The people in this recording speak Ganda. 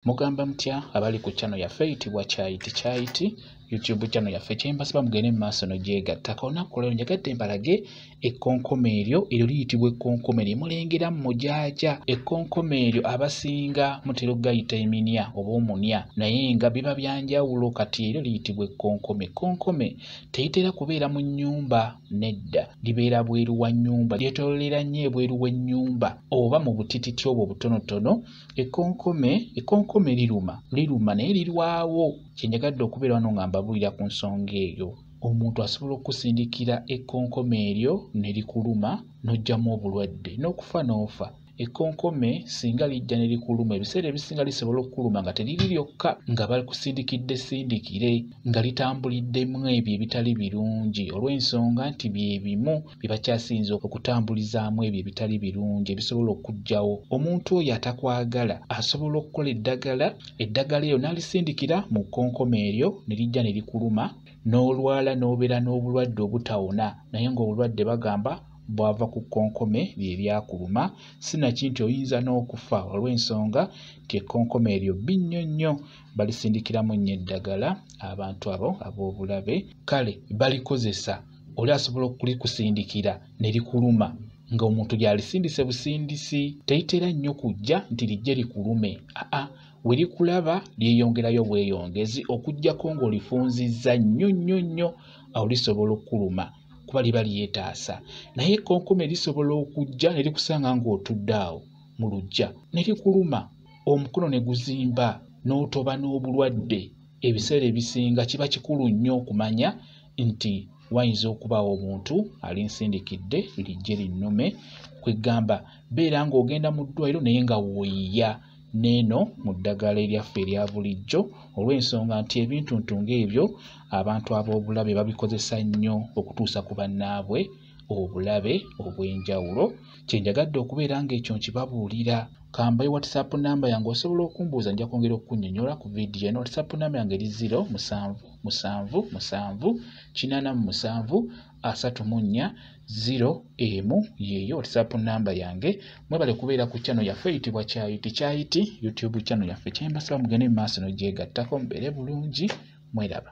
mugamba mutya abali ku chano yaffe eyitibwa kyayiti kyayiti youtube chano yaffe kyembasaba mugende mu maaso nogyegatta kaonaku olwero njagadde mbalage ekkonkoma eryo eryo liyitibwa ekkonkoma eryo mulengera mujaaja ekkonkoma eryo abasinga mutera okugayita eminya oba omunya naye nga biba byanjawulo kati eryo liyitibwa ekkonkome ekkonkome teyitera kubeera mu nnyumba nedda libeera bweru wa nnyumba lyetololera nnyo ebweru w'ennyumba oba mu butititi obwo obutonotono ekonkome ekonkome liruma liruma naye lirwawo kyenjagadde okubeera wano nga mbabuulira ku nsonga eyo omuntu asobola okusindikira ekonkome eryo ne likuluma n'oggyamu obulwadde n'okufa n'ofa ekonkome singa lijja ne likuluma ebiseera ebisinga lisobola okukuluma nga teriri lyokka nga bakusindikidde sindikire nga litambuliddemu ebyo ebitali birungi olw'ensonga nti bye bimu bye bakyasinze okutambulizaamu ebyo ebitali birungi ebisobola okujjawo omuntu oyo atakwagala asobola okukola eddagala eddagala eryo n'alisindikira mu kkonkoma eryo ne lijja ne likuluma n'olwala n'obeera n'obulwadde obutawona naye ng'obulwadde bagamba bwava ku kkonkome lye lyakuluma si naki nti oyinza n'okufa olw'ensonga nti ekkonkome eryo bbi nnyo nnyo balisindikiramu nnyo eddagala abantu abo ab'obulabe kale balikozesa oli asobola okulikusindikira ne likuluma nga omuntu gyalisindise busindisi teritera nnyo kujja nti lijje likulume aa we likulaba lyeyongerayo bweyongezi okujjako ng'olifunzizza nnyo nnyo nnyo awo lisobola okukuluma kuba liba lyetaasa naye ekkonkome lisobola okujja ne likusanga ng'otudde awo mu lujja ne likuluma omukono ne guzimba n'otoba n'obulwadde ebiseera ebisinga kiba kikulu nnyo okumanya nti wayinza okubaawo omuntu alinsindikidde lijje linnume kwegamba beera ng'ogenda mu ddwaliro naye nga woyiya neeno mu ddagala eryaffe erya bulijjo olw'ensonga nti ebintuntu ng'ebyo abantu ab'obulabe babikozesa nnyo okutuusa ku bannaabwe obulabe obw'enjawulo kye njagadde okubeera ng'ekyo nkibabuulira kambayo whatsapp namba yange osobola okumbuuza nja kwongera okukunyonyola ku vidiyo eno whatsapp namba yange eri 0 musanvu musanvu musanvu kinana mu musanvu asatu mu nnya ziro emu yeeyo whatsapp namba yange mwebale kubeera ku chano yaffe eyitibwa kyayiti kyayiti youtube chano yaffe kyembasaba mugende mu maaso nogyegattako mubeere bulungi mweraba